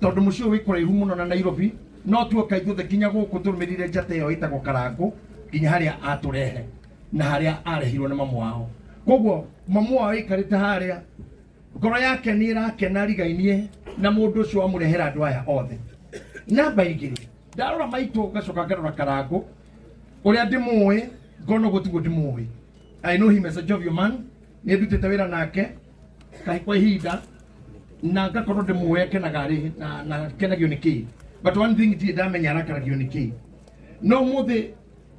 Tondũ mũciĩ ũyũ wĩ kũraihu mũno na Nairobi, no tuoka ithuothe nginya gũkũ tũrũmĩrĩire njata ĩyo ĩtagwo Karangũ nginya harĩa atũrehe na harĩa arehirwo nĩ mamu wao. Koguo mamu wao aikarĩte harĩa, ngoro yake nĩ ĩrakena rigainie na mũndũ ũcio wamũrehera andũ aya othe. Namba igĩrĩ, ndarora maitũ ngacoka ngarora Karangũ, ũrĩa ndĩmũĩ ngona ũguo tiguo ndĩmũĩ. I know him as a jovial man, nĩ ndutĩte wĩra nake, na kwa ihinda na ngakorwo ndĩmũũe kenaga rĩ na, na kenagio nĩ kĩĩ but one thing ndirĩ ndamenya arakaragio nĩ kĩĩ no mũthĩ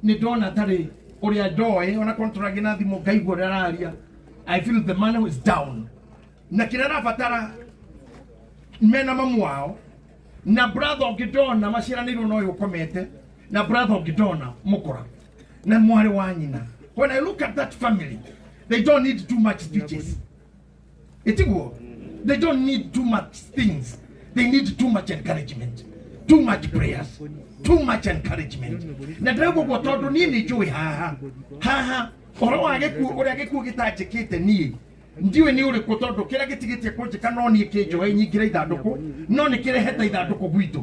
nĩ ndona tarĩ ũrĩa ndoĩ ona korwo tũragia na thimũ ngaigua ũrĩa araria i feel the man who is down na kĩrĩa arabatara mena mamu wao na brother ũngĩ ndona maciaranĩirwo na ũyũ ũkomete na brother ũngĩ ndona mũkora na mwarĩ wa nyina when i look at that family they don't need too much speeches itiguo they don't need too much things they need too much encouragement too much prayers too much encouragement na ndĩrauga ũguo tondũ niĩ nĩ njũĩ haha haha ũhoro wa gĩkuũ ũrĩa gĩkuũ gĩtanjĩkĩte niĩ ndiũĩ nĩ ũrĩkũ tondũ kĩrĩa gĩtigĩtie kũnjĩka no niĩ kĩnjoe nyingĩre ithandũkũ no nĩ kĩrehete ithandũkũ gwitũ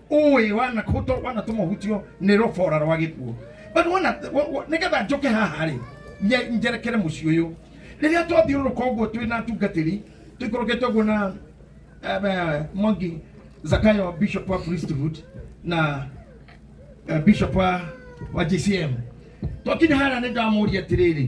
ũĩ wana kũto wana tũma ũhutio nĩ rũbora rwa gĩkuũ but wana wa- wa- nĩgetha njoke haha rĩ nye- njerekere mũciĩ ũyũ rĩrĩa twathiũrũrũka ũguo twĩ na atungatĩri tũikũrũkĩte ũguo na eh, mwangi zakayo bishop wa priesthood na eh, bishop wa wa gcm twakinya harĩa nĩ ndamoria atĩrĩrĩ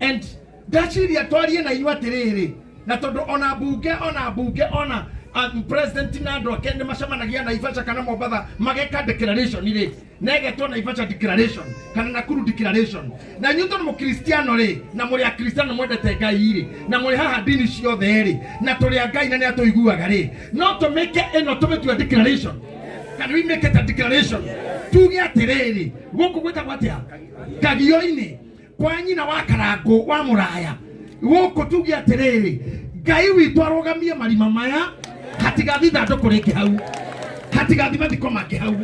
and ndaciria twarie na inyuĩ atĩrĩrĩ na tondũ ona mbunge ona mbunge ona um, president na andũ ake nĩ macemanagia naivasha kana mombatha mageka declaration rĩ na ĩgetwo naivasha declaration kana nakuru declaration na inyuĩ tondũ mũkristiano rĩ na mũrĩ akristiano mwendete ngai rĩ na mũrĩ haha ndini ciothe rĩ na tũrĩ a ngai na nĩ atũiguaga rĩ no tũmĩke ĩno tũmĩtua declaration kana we make it a declaration tuge atĩrĩrĩ gũkũ gwĩtagwo atĩa kagio-inĩ kwa nyina wa karangũ wa mũraya gũkũ tuge atĩrĩrĩ ngai witũ arũgamie marima maya hatigathi ithandũkũ rĩngĩ hau hatigathi mathiko mangĩ hau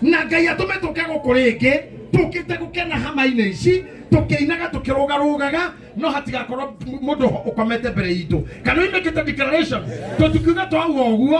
na ngai atũme tũke gũkũ rĩngĩ tũkĩte gũkena hama-inĩ ici tũkĩinaga tũkĩrũgarũgaga no hatigakorwo mũndũ ũkomete mbere itũ kana imĩkĩte declaration tũtikiuga twauga ũguo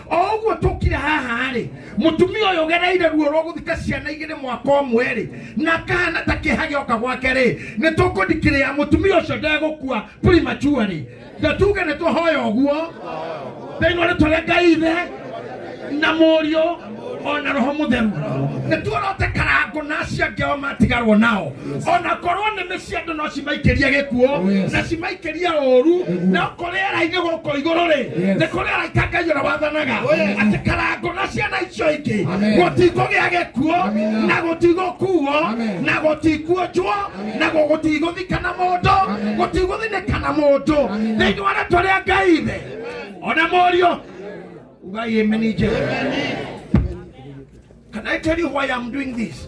o ũguo tũkire haha-rĩ mũtumia ũyũ ũgereire ruo rwa gũthika ciana igĩrĩ mwaka ũmwe-rĩ na kahana ta kĩha gĩoka gwake-rĩ nĩ tũkũdikirĩa mũtumia ũcio ndegũkua prematurely na tuge nĩ twahoya ũguo thĩinĩ wa rĩtwa rĩa ngai ithe na mũriũ ona roho mũtheru nĩ tuorote karango na acio angĩ ao matigarwo nao ona korwo nĩmĩ cia andũ no cimaikĩrie gĩkuũ Oh, yes. na cimaikĩrie ũru Gĩkuũ. no kũrĩ arainĩ gũkũ igũrũ rĩ Yes. nĩ kũrĩ araika ngai ũrĩa wathanaga Oh, yes. atĩ karango na ciana icio ingĩ Amen. gũtikũgĩa gĩkuũ Amina. na gũtigũkuo Amen. na gũtikuonjwo na gũgũtigũthikana mũndũ Amen. gũtigũthinĩkana mũndũ Amina. thĩinĩ wa rĩtwa rĩa ngai ithe ona mũriũ ugai ameni njega Can I tell you why I'm doing this?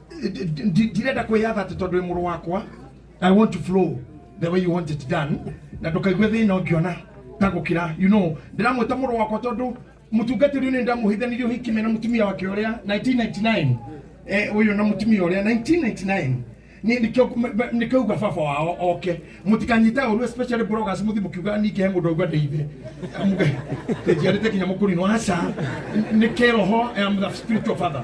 Ndi- ndi- ndirenda kwĩyatha atĩ tondũ wĩ mũrũ wakwa i want to flow the way you want it done na ndũkaigue thĩna ũngĩona ta gũkĩra you know ndĩramwĩta mũrũ wakwa tondũ mũtungatĩri ũyũ nĩ ndamũhithanirie ũhiki me na mũtumia wake ũrĩa 1999 eh, ũyũ na mũtumia ũrĩa 1999 Ni- nikio- me- me- nikauga baba wao oke mutikanyita uru especially bloggers muthi mukiuga nike mundu aigua ndi ithe njiarite kinya mukurino aca ni kiroho am the spiritual father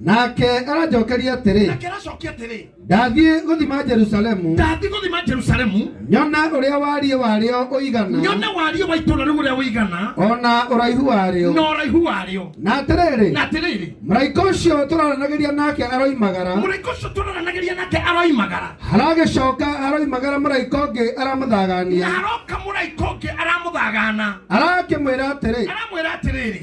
nake aranjokeria atĩrĩ nake aracokia atĩrĩ ndathiĩ gũthima jerusalemu ndathi gũthima jerusalemu nyona ũrĩa wariĩ warĩo ũigana nyone wariĩ wa itũũra rĩu ũrĩa ũigana o na ũraihu warĩo na ũraihu warĩo na atĩrĩrĩ na atĩrĩrĩ mũraika ũcio tũraranagĩria nake aroimagara mũraika ũcio tũraranagĩria nake aroimagara haragĩcoka haroimagara mũraika ũngĩ na aramũthagania haroka mũraika ũngĩ aramũthagana arakĩmwĩra atĩrĩ aramwĩra atĩrĩrĩ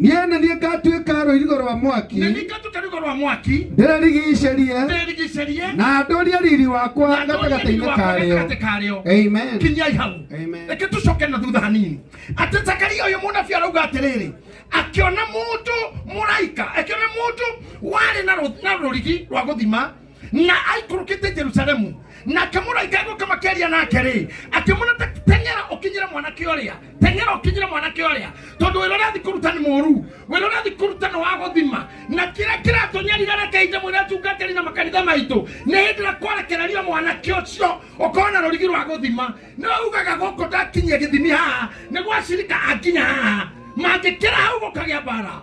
Niĩ nĩ niĩ ngatuĩka rũirigo rwa mwaki, na nĩngatuĩka rũirigo rwa mwaki ndĩrĩrigiicĩrie ndĩrĩrigiicĩrie na ndũrie riri wakwa na ndũrie riri gatagatĩ-inĩ wakwa karĩo. gatagatĩ karĩo Amen. kinyai hau Amen. reke tũcoke na thutha hanini atĩ zakaria ũyũ mũnabi arauga atĩrĩrĩ akĩona mũndũ mũraika akĩona mũndũ warĩ na rũ- na rũrigi rwa gũthima na aikũrũkĩte jerusalemu na akĩmũraika gũka makĩaria nake rĩ akĩmwĩra "Te- teng'era ũkinyĩre mwanake ũrĩa teng'era ũkinyĩre mwanake ũrĩa tondũ wĩra ũrĩa athi kũruta nĩ mũru wĩra ũrĩa athi kũruta nĩ wa gũthima na kĩrĩa kĩratũnyarira na kahinda mwĩra atungatĩri na makanitha maitũ nĩ hĩndĩ ĩrĩa kwerekereria mwanake ũcio ũkorwo na rũrigi rwa gũthima no ugaga gũkũ ndakinyia gĩthimi haha nĩ gwacirika akinya haha mangĩkĩra hau gũkagĩa mbara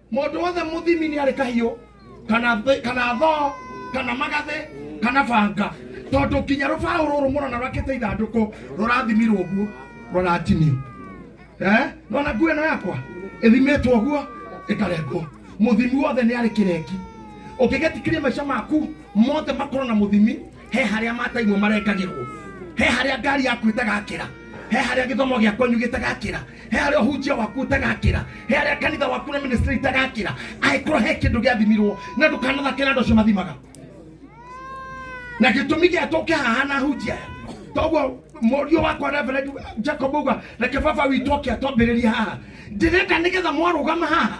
mũndũ wothe mũthimi nĩ arĩ kahiũ kana thĩ- kana thoo kana magathĩ kana banga tondũ nginya rũbaũ rũrũ mũrona rwakĩte ithandũkũ rũrathimirwo ũguo rũratinio Eh? nona nguo ĩno yakwa ĩthimĩtwo ũguo ĩkarengwo mũthimi wothe nĩ arĩ kĩrengi ũngĩgetikĩria maica maku mothe makorwo na mũthimi he harĩa mataimwo marengagĩrwo he harĩa ngari yaku ĩtagakĩra he harĩa gĩthomo gĩa kwanyu gĩtagakĩra he harĩa ũhunjia waku ũtagakĩra he harĩa kanitha waku na ministry itagakĩra angĩkorwo he kĩndũ gĩathimirwo na ndũkanathake na andũ acio mathimaga na gĩtũmi gĩa tũke haha na hunjia aya toguo mũriũ wakwa reverend jacob uga reke baba witũ oke atwambĩrĩria haha ndĩrenda nĩgetha mwarũgama haha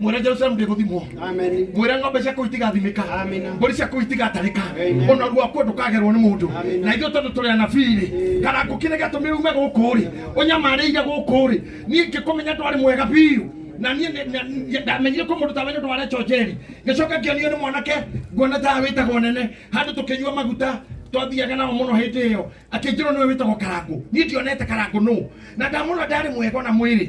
mwere jerusalemu ndĩgũthimwo Amen. mwĩre ng'ombe ciaku itigathimĩka Amina. mbũri ciaku itigatarĩka Amen. ona rwakuo ndũkagerwo nĩ mũndũ Amina. na ithuĩ tondũ tũrĩ anabii-rĩ kana ngũkĩrĩ gĩatũmire ume gũkũ-rĩ ũnyamarĩire gũkũ-rĩ niĩ ngĩkũmenya ndwarĩ mwega biũ na niĩ nĩ- na- nĩ- ndamenyire kwĩ mũndũ tawe nĩ ũndũ wa Rachel Njeri ngĩcoka ngĩonio nĩ mwanake nguona tawe wĩtagwo nene handũ tũkĩnyua maguta twathiaga nao mũno hĩndĩ ĩyo akĩnjĩrwo nĩwe wĩtagwo karangũ niĩ ndionete karangũ nũ na ndamũrora ndarĩ mwega ona mwĩrĩ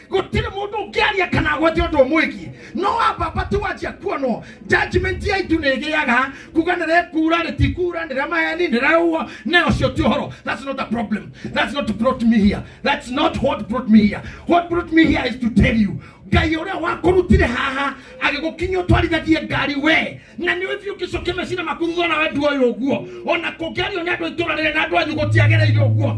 gũtirĩ mũndũ ũngĩaria kana agwete ũndũ ũmwĩgiĩ no ambamba tu wanjia kuonwo judgment ya itu nĩ ĩgĩaga kuga nĩ rekura rĩtikura nĩ ramaheni nĩ raũa na ũcio ti ũhoro that's not a problem that's not brought me here that's not what brought me here what brought me here is to tell you ngai ũrĩa wakũrutire haha agĩgũkinya ũtwarithagie ngari we na nĩ ũthiĩ ũkĩcokia mecina maku thutha na wendu ũyũ ũguo ona kũngĩario nĩ andũ a itũra rĩrĩ na andũ anyu gũtiagĩrĩire ũguo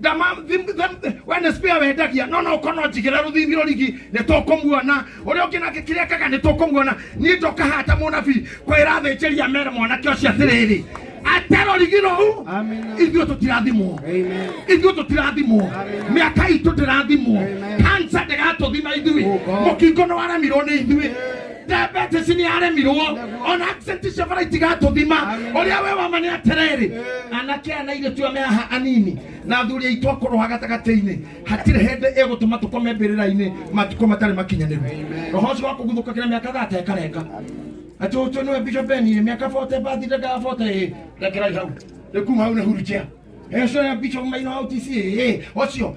ndama thim- thim- we nĩ spare wendagia no no ũkorwo no njigĩra rũthimi rũrigi nĩ tũkũmuona ũrĩa ũngĩ nake kĩrĩa kaga nĩ tũkũmuona niĩ ndoka haha ta mũnabii kwĩra thĩnjĩria mere mwanake ũcio atĩrĩrĩ ate rũrigi rũu Amina. ithuĩ tũtirathimwo Amen. ithuĩ tũtirathimwo mĩaka itũ ndĩrathimwo Amen. kansa ndĩgatũthima ithuĩ Oh, God. mũkingo nĩ waremirwo nĩ ithuĩ diabetes nĩ aremirwo ona accent cia bara itigatũthima ũrĩa we wama nĩ atĩrĩrĩ anake ana irĩ tua me haha anini na athuri aitũ akorwo ha gatagatĩ-inĩ hatirĩ hĩndĩ ĩgũtũma tũkome mbĩrĩra-inĩ matukũ matarĩ makinyanĩru roho ũcio wa kũguthũka kĩna mĩaka thate ĩkarenga atĩ ũcio nĩwe bishop beni mĩaka 40 bathi ndagaga 40 rekerai hau rĩkuma hau nĩ hurutia Eso ya bicho maino au tisi eh ocio